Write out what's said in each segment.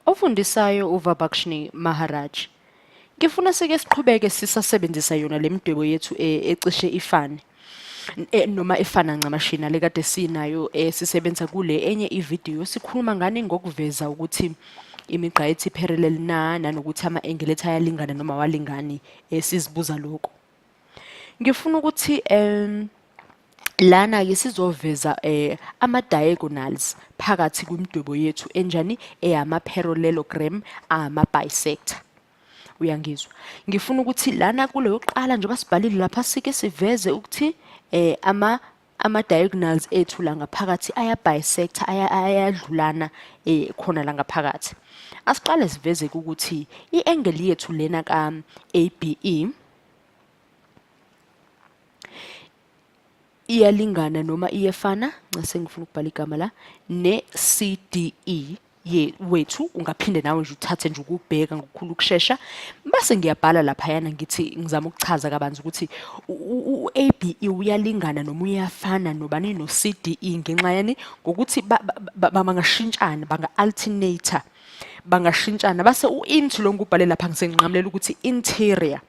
Ofundisayo uVabakshni Maharaj. Ngifuna sike siqhubeke sisasebenzisa yona lemidwebo yethu eh, ecishe ifane. Eh, noma efana ncamashi nale kade sinayo esisebenza eh, kule enye ividiyo sikhuluma ngani ngokuveza ukuthi imigqa ethi parallel na nanokuthi ama-engelethi ayalingana noma awalingani sizibuza lokho ngifuna ukuthi um lana-ke sizoveza um ama-diagonals phakathi kwimidwebo yethu enjani eyama-parallelogram ama-bisector uyangizwa ngifuna ukuthi lana kuleyokuqala njengoba sibhalile lapha sike siveze ukuthi um ama ama-diagonals ethu la ngaphakathi aya-bisector ayadlulana um khona la ngaphakathi asiqale sivezeke ukuthi i-engeli yethu lena ka-a b e iyalingana noma iyefana nxa sengifuna ukubhala igama la ne-c d e ye wethu ungaphinde nawe nje uthathe nje ukubheka ngokukhulu ukushesha base ngiyabhala lapha yana ngithi ngizama ukuchaza kabanzi ukuthi uABE uyalingana noma uyafana nobani no CDE ngenxa yani ngokuthi bangashintshana banga alternator bangashintshana base uInt lo ngubhale lapha ngisenqamulela ukuthi interior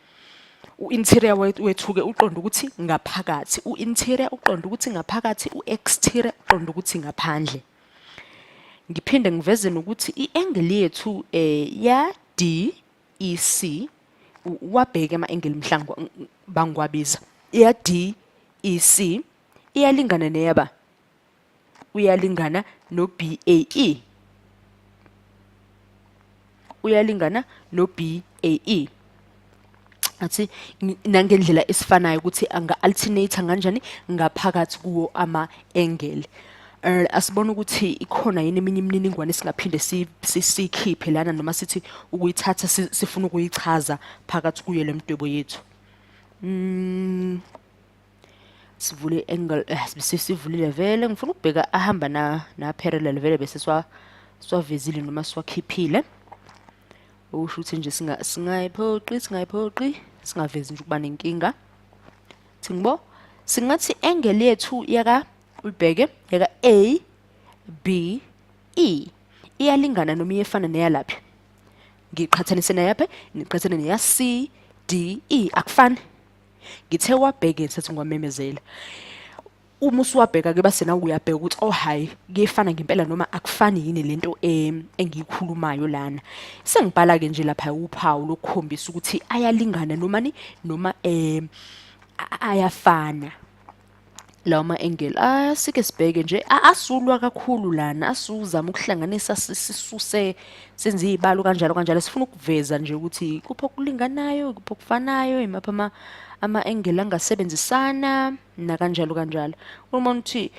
u-interior wethuke uqonda ukuthi ngaphakathi u-interior uqonda ukuthi ngaphakathi u-exterior uqonda ukuthi ngaphandle ngiphinde ngiveze nokuthi i-angle yethu um ya d e c wabheke ama-angle mhlawumbe bangiwabiza ya d e c iyalingana neyaba uyalingana no-b a e uyalingana no B A E athi nangendlela esifanayo ukuthi anga alternate kanjani ngaphakathi kuwo ama angle eh asibona ukuthi ikhona yini eminye imininingwane singaphinde sikhiphe lana noma sithi ukuyithatha sifuna ukuyichaza phakathi kuyo lemdwebo yethu mm sivule angle eh, bese sivulile vele ngifuna ukubheka ahamba na na parallel vele bese swa swavezile noma swakhiphile okusho ukuthi nje singa singayiphoqi singayiphoqi singavezi nje ukuba nenkinga thingibo singathi angle yethu yaka ulibheke yaka A B E iyalingana noma iyefana neyalapha ngiqhathanise neyapha ngiqhathanise neya C D E akufani ngithe wabheke ngisathi ngiwamemezela uma usuwabheka ke basena uyabheka ukuthi oh hayi kuyefana ngempela noma akufani yini lento engiyikhulumayo lana sengibhala ke nje lapha uphawu lokukhombisa ukuthi ayalingana noma ni noma eh ayafana lawa ma-engeli asike sibheke nje asulwa kakhulu lana asuzama ukuhlanganisa sisuse senze iy'balo kanjalo kanjalo sifuna ukuveza nje ukuthi kuphi okulinganayo kuphi okufanayo imaphi ama-engeli angasebenzisana nakanjalo kanjalo uma ukuthi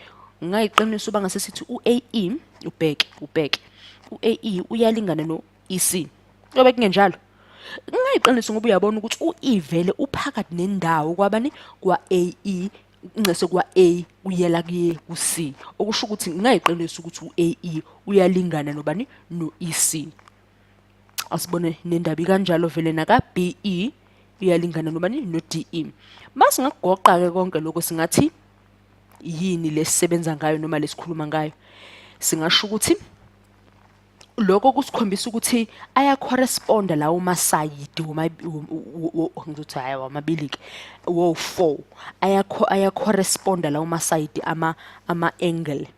ngayiqiniso uba ngasesithi u-ae ubheke ubheke u-ae uyalingana no EC. Yobe kungenjalo. Ngingayiqinisa ngoba uyabona ukuthi uivele uphakathi nendawo kwabani kwa AE ncese kwa A uyela kuye ku C okusho ukuthi ngingayiqinisa ukuthi u AE uyalingana nobani no EC asibone nendabi kanjalo vele naka BE uyalingana nobani no DE mase ngakugoqa ke konke lokho singathi yini lesisebenza ngayo noma lesikhuluma ngayo singasho ukuthi lokho kusikhombisa ukuthi ayacorresponda lawo masayidi ngizothi hhayi wamabili-ke wo-four ayacorresponda lawo masayidi ama-angle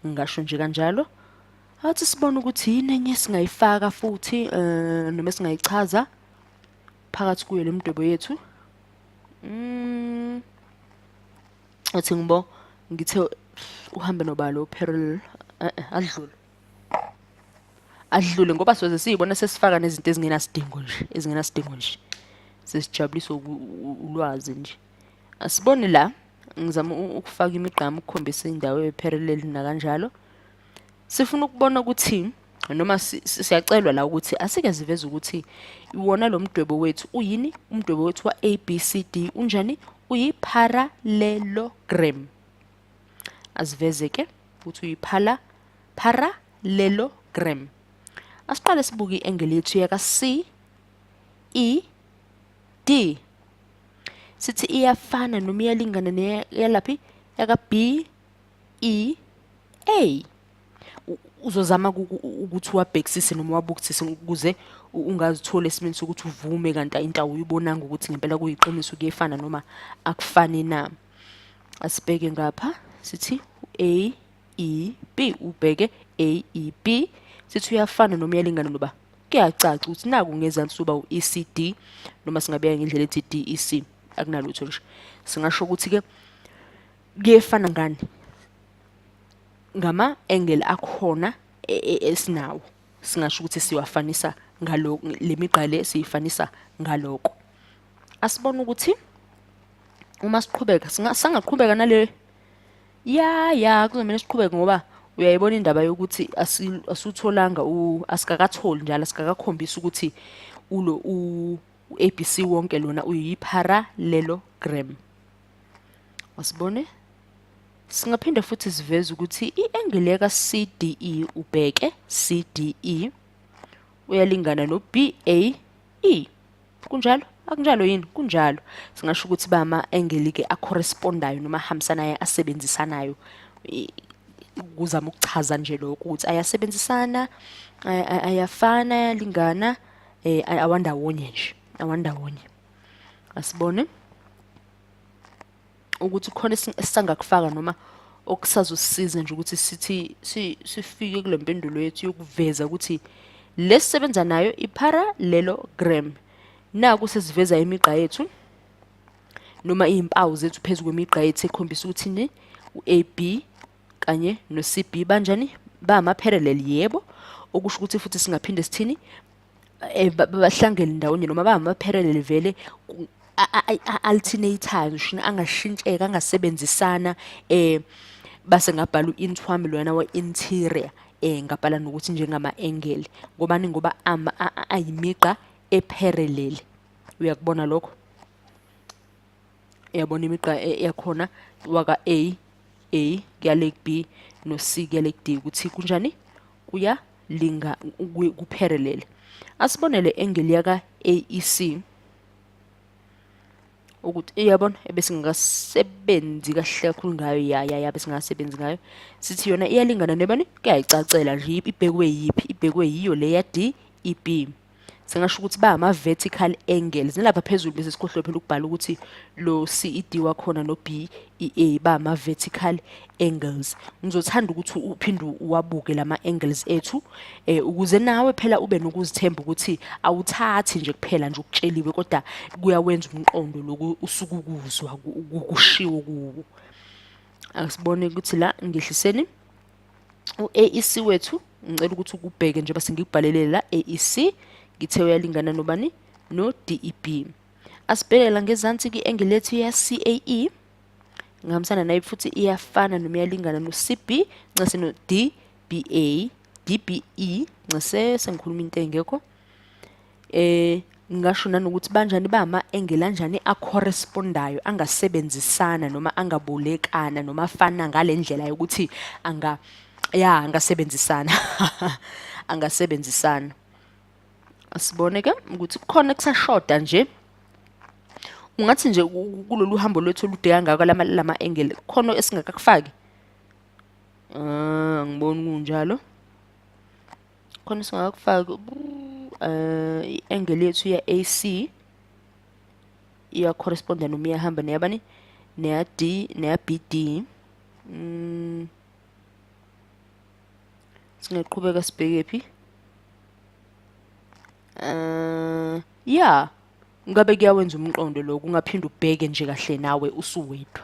ngingasho nje kanjalo athi sibone ukuthi yini enye esingayifaka futhi um noma esingayichaza phakathi kuyo le mdwebo yethu um uthi ngibo ngithe uhambe nobalo uperil eh, eh, adlule adlule ngoba soze siyibona sesifaka nezinto ezingenasidingo nje ezingenasidingo nje sesijabulisa ulwazi nje asibone la ngizama ukufaka imigqama ukukhombisa indawo eperil nakanjalo sifuna ukubona ukuthi noma siyacelwa la ukuthi asike ziveze ukuthi iwona lo mdwebo wethu uyini umdwebo wethu wa-a b c d unjani uyi-parallelogram aziveze ke ukuthi uyiphala parallelogram asiqale sibuke i-engeli yethu yaka-c e d sithi iyafana noma iyalingana neyalaphi yaka-b E A uzozama ukuthi uwabhekisise noma uwabukisise ukuze ungazithola esimeni sokuthi uvume kanti into awuyibonanga ukuthi ngempela kuyiqiniso kuyefana noma akufani na asibheke ngapha sithi A E B ubheke A E B sithi uyafana noma uyalingana noba kuyacaca ukuthi naku ngezansi soba u-ECD noma singabeka ngendlela ethi DEC akunalutho nje singasho ukuthi-ke kuyefana ngani ngama angle akhona e, e, esinawo singasho ukuthi siwafanisa ngaloko lemigqale siyifanisa ngaloko asibona ukuthi uma siqhubeka singaqhubeka nale ya ya kuzomela siqhubeke ngoba uyayibona indaba yokuthi asutholanga asikakatholi njalo asikakakhombisi ukuthi ulo u-abc wonke lona uyi-parallelogram Wasibone? Singaphinde futhi siveze ukuthi i-angle ka CDE ubheke CDE uyalingana no BAE. Kunjalo? Akunjalo yini? Kunjalo. Singasho ukuthi ba ama angle ke a correspondayo noma ahambisanayo asebenzisanayo kuzama ukuchaza nje lokho ukuthi ayasebenzisana ayafana ayalingana eh awandawonye nje awandawonye asibone ukuthi khona esisangakufaka noma okusazosisiza nje ukuthi sithi sifike kule mpendulo yethu yokuveza ukuthi lesisebenza nayo i-parallelogram naku sesiveza imigqa yethu noma izimpawu zethu phezulu kwemigqa yethu ekhombisa ukuthi ni uAB kanye noCB banjani bama parallel yebo okusho ukuthi futhi singaphinde sithini eh, bahlangele ndawonye noma bangama-parallel vele a-alternatayo ngisho angashintsheka angasebenzisana um base ngabhala u-int wami loyana wa-interior um ngabhala nokuthi njengama-engeli ngobani ngoba ayimigqa e-parallel uyakubona lokho uyabona imigqa e-, yakhona waka-a a kuyale ku-b no-c kuyale ku-d ukuthi kunjani kuya linga kupherelele asibonele engeli yaka AEC ukuthi iyabona ebesingakasebenzi kahle kakhulu ngayo yaya ya besingasebenzi ngayo sithi yona iyalingana nebani kuyayicacela nje ibhekwe yiphi ibhekwe yiyo le ya D E B singasho ukuthi ba ama vertical angles nilapha phezulu bese sikhohlwe phela ukubhala ukuthi lo CED wakhona no BEA ba ama vertical angles ngizothanda ukuthi uphinde uwabuke lama angles ethu eh ukuze nawe phela ube nokuzithemba ukuthi awuthathi nje kuphela nje ukutsheliwe kodwa kuyawenza umqondo loku usukukuzwa ukushiwo kuwo asibone ukuthi la ngihliseni u-AEC wethu ngicela ukuthi ukubheke nje base ngikubhalele la AEC ngithe uyalingana nobani no DEB asibheke la ngezansi ki-angle lethu ya CAE ngihambisana naye futhi iyafana noma iyalingana no CB ncese no DBA DBE ncese sengikhuluma into engekho eh ngingasho nanokuthi banjani bama engelanjani acorrespondayo angasebenzisana noma angabolekana noma afana ngalendlela yokuthi anga ya angasebenzisana angasebenzisana asibone ke ukuthi kukhona kusashoda nje ungathi nje kulolu hambo lwethu olude kangaka lama lama angle khona esingakakufaki ah ngibona kunjalo khona singakufaki uh, i-angle yethu ya-ac iyacorresponda noma iyahamba neyabani neya-d neya-bd mm. singaqhubeka sibheke phi um ya ngabe kuyawenza umqondo lo kungaphinde ubheke nje kahle nawe usuwedwa